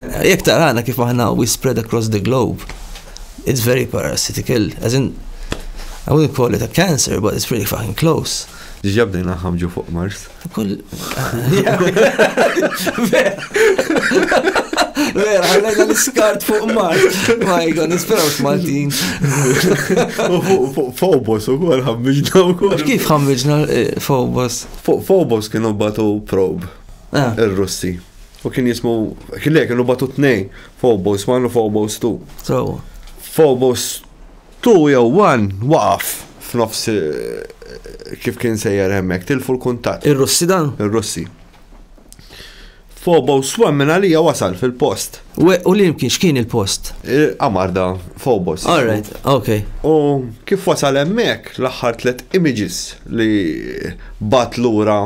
Jekk tarana kif aħna we spread across the globe, it's very parasitical, as in, I wouldn't call it a cancer, but it's pretty fucking close. Diġa bdejna ħamġu fuq Mars. Kull. Vera, għallajna l-skart fuq mar. Ma jgħon, nisperaw x'Maltin. Fuq Fobos u kol ħammiġna u kol. Kif ħammiġna eh, Fobos? Fuq Fobos kienu batu prob. Ah. Il-Russi. U kien jismu, le, kienu batu tnej, Phobos 1 u Phobos 2. Sawa. Phobos 2 jew 1 waqaf f'nofs eh, kif kien sejjer hemmhekk, tilfu l-kuntatt. Ir-Russi dan? Ir-Russi. Phobos 1 minn għalija wasal fil-post. U u li kien x'kien il-post? Amarda Phobos. All right, ok. U kif wasal hemmhekk l-aħħar tliet images li bat lura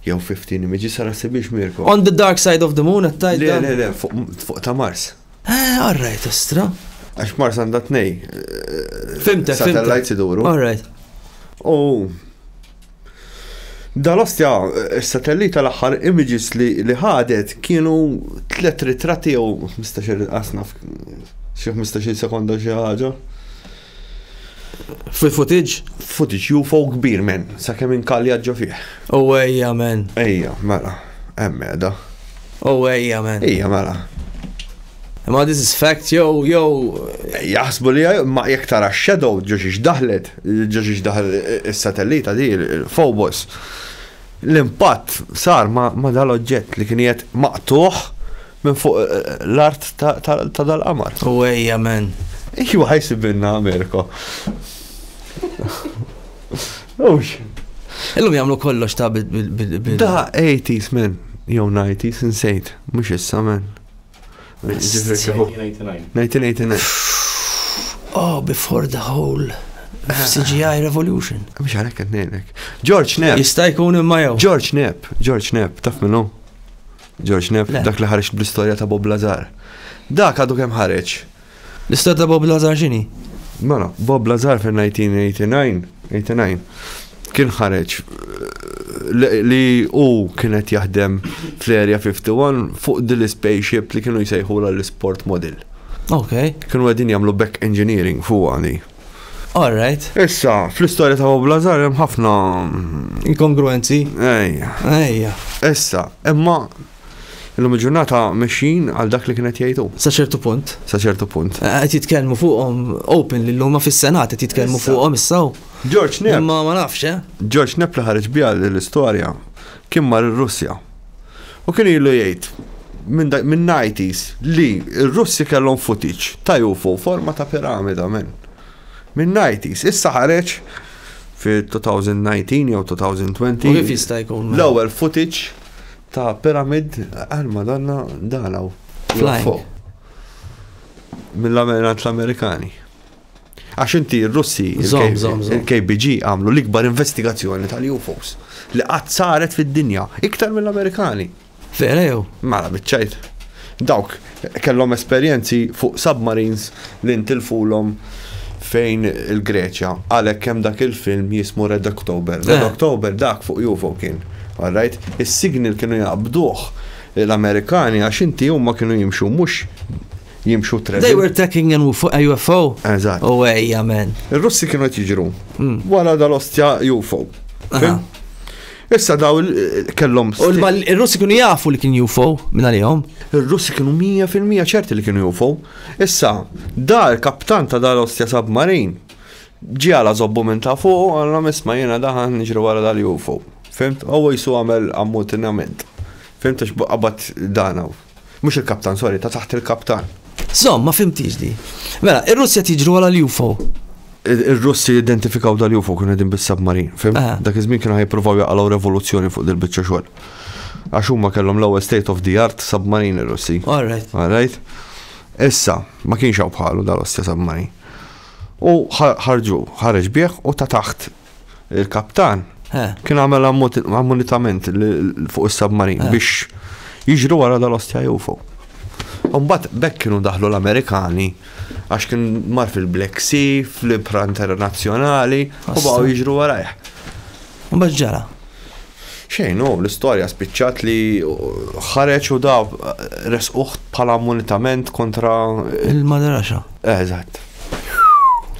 Jew fifteen images, ara ssib biex Mirko. On the dark side of the moon qed tgħid dan? Le le le, fuq ta' Mars. Eh, all right, ostra. Għax Mars għandha tnej. Eh, fimtek, fimtek. Satellites iduru. All right. U Dal-ostja, eh, s-satellit tal-axħar images li li ħadet kienu tlet ritratti jew 15 qasna xi 15 sekonda xi ħaġa. Fil footage? Footage UFO kbir men, sakemm inkalja ġo fih. U ejja men. Ejja, mela. Hemm qiegħda. U ejja men. Ejja mela. Ma this is fact jew jew jaħsbu li ma jekk tara shadow ġo xiex daħlet, ġo xiex daħal is-satellita di il-Phobos. L-impatt sar ma dal-oġġett li kien qiegħed maqtuħ Minn fuq l-art ta' dal-qamar. U ejja men. Ejwa ħajsibilna Amerika. Ux. Illum jagħmlu kollox ta' bil. Da 80s men, jew 90s insejt, mhux issa men. 1989. Oh, before the whole CGI Revolution. Mux għalek għadnejnek. George Knapp. Jista' jkun imma jew. George Knapp, George Knapp, taf minnu? George Neff, dak li ħareġ bl-istorja ta' Bob Lazar. Dak għadu kemm ħareġ. L-istorja ta' Bob Lazar x'inhi? Mela, Bob Lazar fil-1989, 89, kien ħareġ li u kienet jaħdem fl-Area 51 fuq din l-spaceship li kienu jsejħu l-sport model. Ok. Kienu għedin jamlu back engineering fuq għani. All right. Issa, fl-istorja ta' Bob Lazar hemm ħafna. Inkongruenzi. Ejja. Ejja. Issa, imma Illum il-ġurnata mexxin għal dak li kienet jgħidu. Sa ċertu punt. Sa ċertu punt. Eh, qed jitkellmu fuqhom open li l-luma fis-Senat qed jitkellmu fuqhom issaw. George Nepp. Ma ma nafx, eh? George Nepp li ħareġ biha l-istorja Kien mar ir-Russja. U kien ilu jgħid, minn nineties, li r-Russi kellhom footage ta' UFO forma ta' piramida, minn nineties. Issa ħareġ fit-2019 jew 2020 l-ewwel footage ta' pyramid, għal Madonna dan hawn. Flying. Mill-Amerikani. Għax inti r-Russi, il-KBG għamlu l-ikbar investigazzjoni tal-UFOs li qatt saret fid-dinja, iktar mill-Amerikani. Vera jew? Mara biċċajt. Dawk kellhom esperjenzi fuq submarines li ntilfulhom fejn il-Greċja. Għalhekk hemm dak il-film jismu Red October. Red eh. October dak fuq UFO kien. Alright? Is-signal kienu jaqbduh l-Amerikani għax inti huma kienu jimxu mhux jimxu treading. They were attacking and fuq UFO? Eżatt. U ejja men. Ir-Russi kienu qed jiġru. Mm. Wara dal-ostja UFO. Issa daw kellhom. U l-Russi kienu jafu li kien UFO minn għalihom? Ir-Russi kienu 100% ċerti li kienu UFO. Issa, dar kaptan ta' dar ostja submarin ġi għala zobbu minn ta' fuq, għallam isma jena daħan nġri wara dal-UFO. Fimt, għaw jisu għamel ammutinament. Fimt, għax qabad dana. Mhux il-kaptan, sorry, ta' taħt il-kaptan. Żomm, ma fhimtiex di. Mela, ir-Russi qed jiġru wara l-UFO. Ir-Russi jidentifikaw dal-UFO kienu qegħdin bis-submarin, fim? Ah. Dak iż-żmien kienu ħajjippruvaw jaqalgħu revoluzzjoni fuq dil-biċċa xogħol. Għax huma kellhom l-ewwel state of the art submarin ir-Russi. All right. All right? Issa, ma kienx hawn bħalu dal-ostja submarin. U ħarġu, ħareġ bih u ta' taħt il-kaptan kien għamel ammonitament fuq is-submarin biex jiġru wara dal-ostja UFO. Umbat bekk kienu daħlu l-Amerikani għax kien mar fil-Black Sea, fl-Ibra Internazzjonali, u baqgħu jiġru warajh. Umbat ġara. Xejn, hu, l-istorja spiċċat li ħareġ u da resquh bħala ammunitament kontra. Il-madraxa. Eżatt.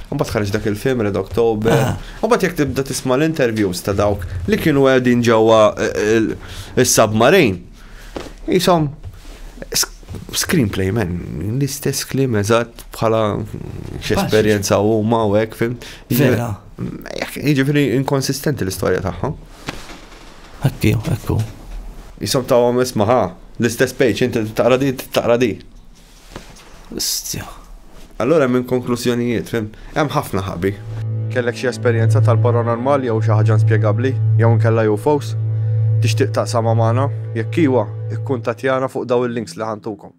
Mbagħad ħareġ dak il-film Red October. Mbagħad jekk tibda tisma' l-interviews ta' dawk li kienu qegħdin ġewwa is-submarine. Isom screenplay men, l-istess kliem eżatt bħala x'esperjenza huma u hekk fim. Vera. Jiġifieri inkonsistenti l-istorja tagħha. Hekk hu, hekk hu. Jisom tawhom isma' ħa, l-istess page, inti taqra di, taqra di. Stja. Allura hemm inkonklużjonijiet, fim? Hemm ħafna ħabi. Kellek xi esperjenza tal-paranormal jew xi ħaġa inspjegabbli jew inkella UFOs? Tixtieq taqsamha magħna? Jekk iwa, ikkuntattjana fuq dawn il-links li ħa ntukom.